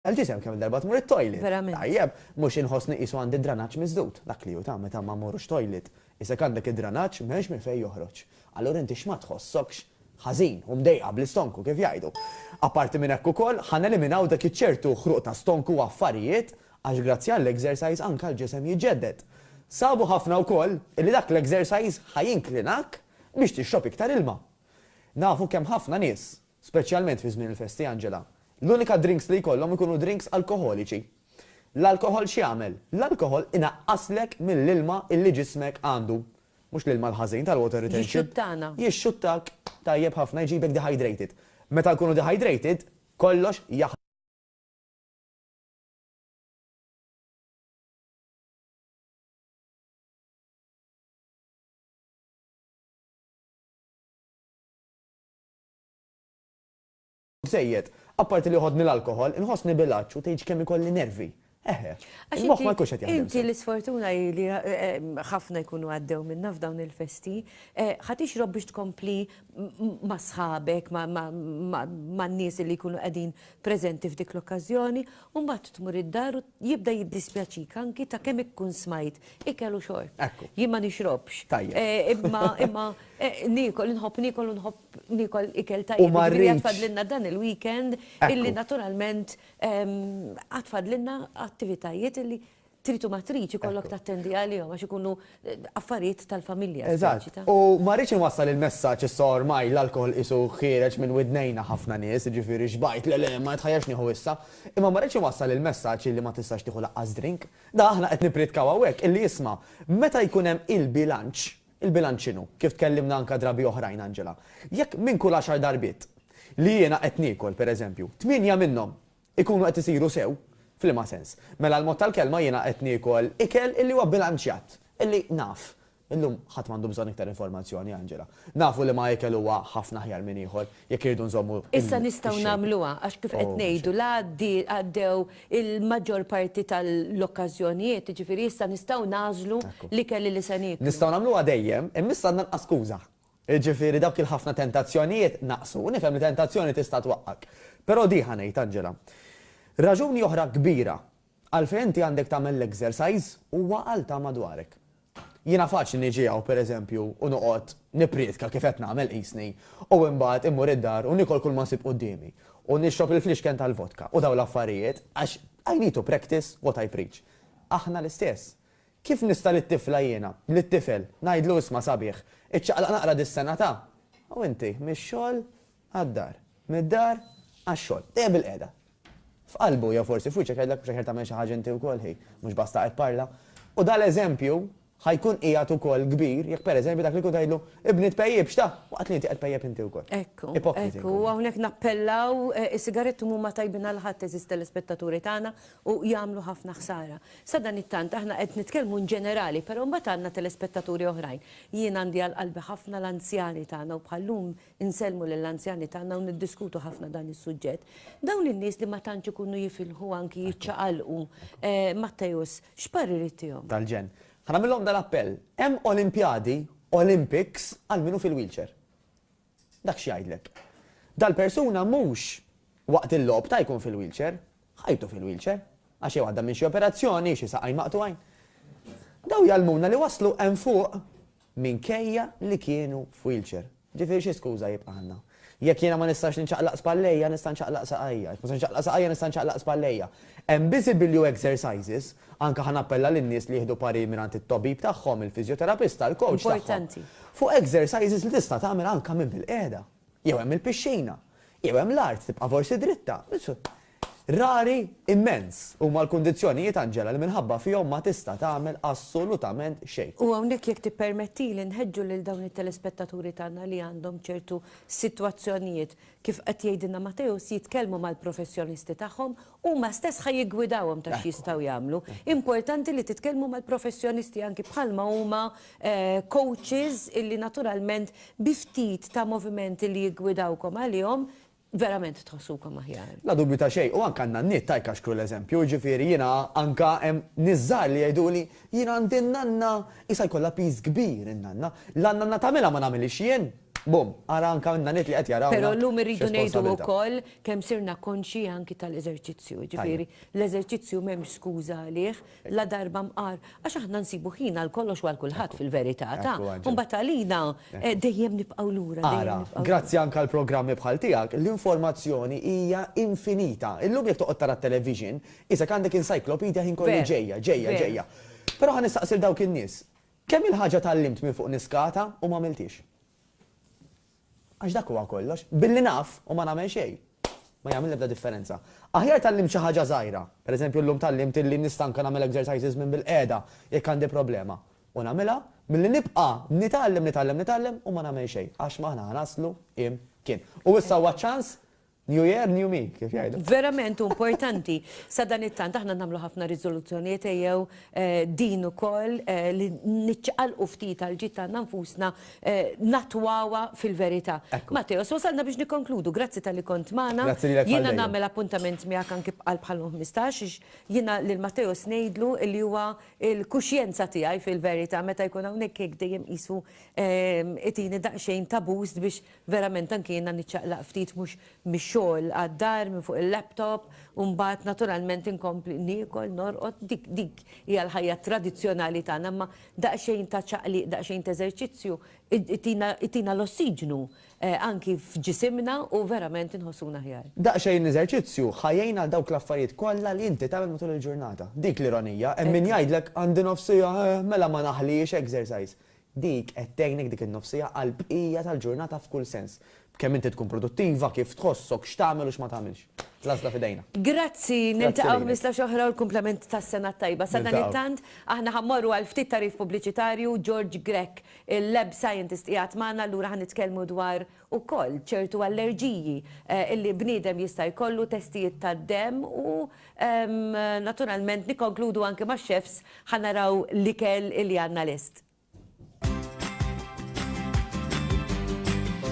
l-ġisem kemm-il darba tmur it-toilet. Verament. Tajjeb, mhux inħossni qisu għandi d-dranaġġ miżdud. Dak li hu ta' meta ma mmorrux toilet. Qisek għandek id-dranaġġ m'hemmx minn fejn joħroġ. Allura inti x'ma tħossokx ħażin u mdejqa bl-istonku kif jgħidu. Apparti minn hekk ukoll, ħa neliminaw dak iċ-ċertu ħruq ta' stonku u affarijiet għax grazzi għall-exercise anke l-ġisem jiġġedded. Sabu ħafna wkoll illi dak l-exercise ħa jinklinak biex tixrob iktar ilma. Nafu kemm ħafna nies Speċjalment fi żmien il-festi, Angela. L-unika drinks li jkollhom ikunu drinks alkoħoliċi. L-alkoħol x'jagħmel? L-alkoħol inaqqaslek mill-ilma illi ġismek għandu. Mhux l-ilma l-ħażin tal-water retention. Jixxuttana. Jixxuttak tajjeb ħafna, jġibek dehydrated. Meta nkunu dehydrated, kollox jaħdem. żejjed. Apparti li joħodni l-alkoħol, inħossni bil-għatx u tgħidx kemm ikolli nervi. Eħe. Il-moħħ ma jkunx qed jaħdem sew. Inti l-isfortuna hi li ħafna jkunu għaddew minnha f'dawn il-festi. Ħa tixrob biex tkompli ma' sħabek, man-nies li jkunu qegħdin preżenti f'dik l-okkażjoni, u mbagħad tmur id-dar u Jibda jiddispjaċik anki ta' kemm ikkun smajt ikel u xorb. Ekku. Jien ma nixrobx. Tajjeb. Eh, imma, imma, eh, niekol, inħobb niekol u nħobb niekol ikel tajjeb. U ma Jiġifieri għad rridx- fadlilna dan il-weekend Ekku. illi naturalment, ehm, għad fadlilna attivitajiet illi trid u ma tridx ikollok Ekku. tattendi għalihom għax ikunu affarijiet tal-familja. Eżatt. U ma rridx inwassal il-messaġġ issa ormai l-alkoħol qisu ħiereġ minn widnejna ħafna nies, jiġifieri xbajt, le le, ma nitħajjarx nieħu issa. Imma ma rridx inwassal il-messaġġ illi ma tistax tieħu lanqas drink. Dak aħna qed nippritkaw hawnhekk illi isma', meta jkun hemm il-bilanċ, il-bilanċ x'inhu? Kif tkellimna anke drabi oħrajn Angela. Jekk minn kull għaxar darbiet li jiena qed niekol, pereżempju, tmienja minnhom Ikunu qed isiru sew? F'liema sens? Mela l-mod tal-kelma jiena qed niekol ikel illi huwa bilanċjat, illi naf. Illum ħadd m'għandu bżonn iktar informazzjoni, Angela. Nafu liema ikel huwa ħafna aħjar minn ieħor, jekk irridu nżommu il-shape. Issa nistgħu nagħmluha, għax kif qed ngħidu, la għaddew il-maġġor parti tal-okkażjonijiet, jiġifieri issa nistgħu nagħżlu l-ikel illi se nieklu. Nistgħu nagħmluha dejjem, imma issa għandna nqas skuża. Jiġifieri dawk il-ħafna tentazzjonijiet naqsu. Nifhem li tentazzjoni tista' twaqqgħek. Però di ħa ngħid, Angela. Raġuni oħra kbira għalfejn inti għandek tagħmel l-exercise huwa għal ta' madwarek. Jiena faċli niġi hawn, per eżempju, u noqgħod nipprietka kif qed nagħmel qisni, u imbagħad immur id-dar u niekol kulma nsib quddiemi, u nixrob il-flixken tal-vodka u dawn l-affarijiet, għax I need to practice what I preach. Aħna l-istess. Kif nista' lit-tifla jiena, lit-tifel, ngħidlu isma' sabiħ, iċċaqlaq naqra dis-sena ta', u inti, mix-xogħol għad-dar, mid-dar għax-xogħol, dejjem bilqiegħda. F'qalbu jew forsi f'wiċċek jgħidlek mhux aħjar tagħmel xi ħaġa inti wkoll ħi, mhux basta qed parla. U dan l-eżempju ħa jkun qiegħed ukoll kbir jekk pereżempju dak li jkun tgħidlu, ibni tpejjipx ta', waqt li inti qed tpejjep inti wkoll. Ekku, ekku, u hawnhekk nappellaw, is-sigaretti mhuma tajbin għal ħadd għeżież telespettaturi tagħna u jagħmlu ħafna ħsara. Sadanittant aħna qed nitkellmu in ġenerali, però mbagħad għandna telespettaturi oħrajn. Jien għandi għal qalbi ħafna l-anzjani tagħna u bħal-lum insellmu lill-anzjani tagħna u niddiskutu ħafna dan is-suġġett. Dawn in-nies li ma tantx ikunu jifilħu anki jiċċaqalqu, Matteus, x'parir ittihom? Tal-ġenn. Ħa nagħmillhom dan appell, hemm Olimpjadi, Olympics, għal min hu fil-wheelchair. Dak x'jgħidlek? Dal-persuna mhux waqt il-logħob ta' jkun fil-wheelchair, ħajtu fil-wheelchair, għax jew għadda minn xi operazzjoni, xi saqajn maqtugħin. Dawn jgħallmuna li waslu hemm fuq minkejja li kienu f'wheelchair. Ġifieri xi skuża jibqa' għandna? Jekk jiena ma nistax ninċaqlaq spallejja, nista' nċaqlaq saqajja. Jekk ma nistax ninċaqlaq saqajja, nista' nċaqlaq spallejja. Hemm biżi bilju exercises Anke ħa nappella lin-nies li jieħdu parir mingħand it-tobib tagħhom, il-fiżjoterapista, il-kowċ tagħhom, fuq exercises li tista' tagħmel anke minn bil-qiegħda. Jew hemm il-pixxina. Jew hemm l-art, tibqa' forsi dritta. Rari immens huma l-kundizzjonijiet, Angela, li minħabba fihom ma tista' tagħmel assolutament xejn. U hawnhekk jekk tippermettili nħeġġu lil dawn it-telespettaturi tagħna li għandhom ċertu sitwazzjonijiet, kif qed jgħidilna Mateusz, jitkellmu mal-professjonisti tagħhom Huma stess ħa jiggwidawhom ta' x'jistgħu jagħmlu. Importanti li titkellmu mal-professjonisti anki bħalma huma coaches illi naturalment bi ftit ta' movimenti li jiggwidawkom għalihom verament tħossukom aħjar. La dubju ta' xejn, u anke għan-nanniet ta' jkaxkru l-eżempju, jiġifieri jiena anke hemm nies żgħar li jgħiduli, jien għandi n-nanna, qisha jkollha piż kbir in-nanna, la n-nanna tagħmilha ma nagħmilhiex jien. Bum, ara anke għandna nies li qed jarawna. Però llum irridu ngħidu wkoll kemm sirna konxji anki tal-eżerċizzju, jiġifieri l-eżerċizzju m'hemmx skuża għalih, la darba mqar, għax aħna nsibu ħin għal kollox u għal kulħadd fil-verità, ta? U mbagħad għalina dejjem nibqgħu lura. Ara, grazzi anke għal programmi bħal tiegħek, l-informazzjoni hija infinita. Illum jekk toqgħod tara t-television, qisek għandek encyclopedia ħin kollu ġejja, ġejja, ġejja. Però ħa nistaqsi lil dawk in-nies, Kemm il-ħaġa tgħallimt minn fuq niskata u m'għamilthiex. Għax dak huwa kollox. Billi naf u ma nagħmel xejn, ma jagħmel l-ebda differenza. Aħjar tgħallimt xi ħaġa żgħira, pereżempju llum tgħallimt illi nista' anke nagħmel exercises minn bilqiegħda jekk għandi problema, u nagħmilha, milli nibqa' nitgħallem, nitgħallem, nitgħallem u ma nagħmel xejn, għax m'aħna ħa naslu imkien. U issa huwa ċ-ċans New year, new me, kif jgħidu. Verament hu importanti sa dan it-tant aħna nagħmlu ħafna riżoluzzjonijiet ejjew eh, din ukoll eh, li niċċaqalqu ftit għal ġid tagħna nfusna eh, natwawa fil-verità. Ekku. Matteo, so wasalna biex nikkonkludu, grazzi tal-li kont magħna. Grazzi lilek Jiena għal-dejjem. nagħmel appuntament miegħek anki bqal bħal 15 ix jiena lil Matteo snejdlu li huwa il-kuxjenza tiegħi fil-verità meta jkun hawnhekk hekk dejjem qisu ehm, itini daqsxejn ta' boost biex Verament anki jiena niċċaqlaq ftit mhux mix-xogħol għad-dar minn fuq il-laptop u mbagħad naturalment inkompli niekol, norqod, dik dik hija l-ħajja tradizzjonali tagħna imma daqsxejn ta' ċaqliq, daqsxejn t'eżerċizzju itina itina l-ossiġnu anki f'ġisimna u verament inħossuna aħjar. Daqsxejn eżerċizzju ħa jgħin għal dawk l-affarijiet kollha li inti tagħmel matul il-ġurnata. Dik l-ironija, hemm min jgħidlek għandi nofs siegħa, eħ, mela ma naħliex exercise. Dik qed tgħinek dik in-nofsiegħa għall-bqija tal-ġurnata f'kull sens. B'kemm inti tkun produttiva, kif tħossok, x'tagħmel u x'ma tagħmilx. L-għażla f'idejna. Grazzi, niltaqgħu ħmistax oħra u l-kumplament tas-sena t-tajba. Sadanittant, aħna ħa mmorru għal ftit tagħrif pubbliċitarju, George Grech, il-Lab Scientist qiegħed magħna, allura ħa nitkellmu dwar ukoll ċertu allerġiji li bniedem jista' jkollu, testijiet tad-demm u naturalment nikkonkludu anke max-chefs ħa naraw l-ikel li għandna lest.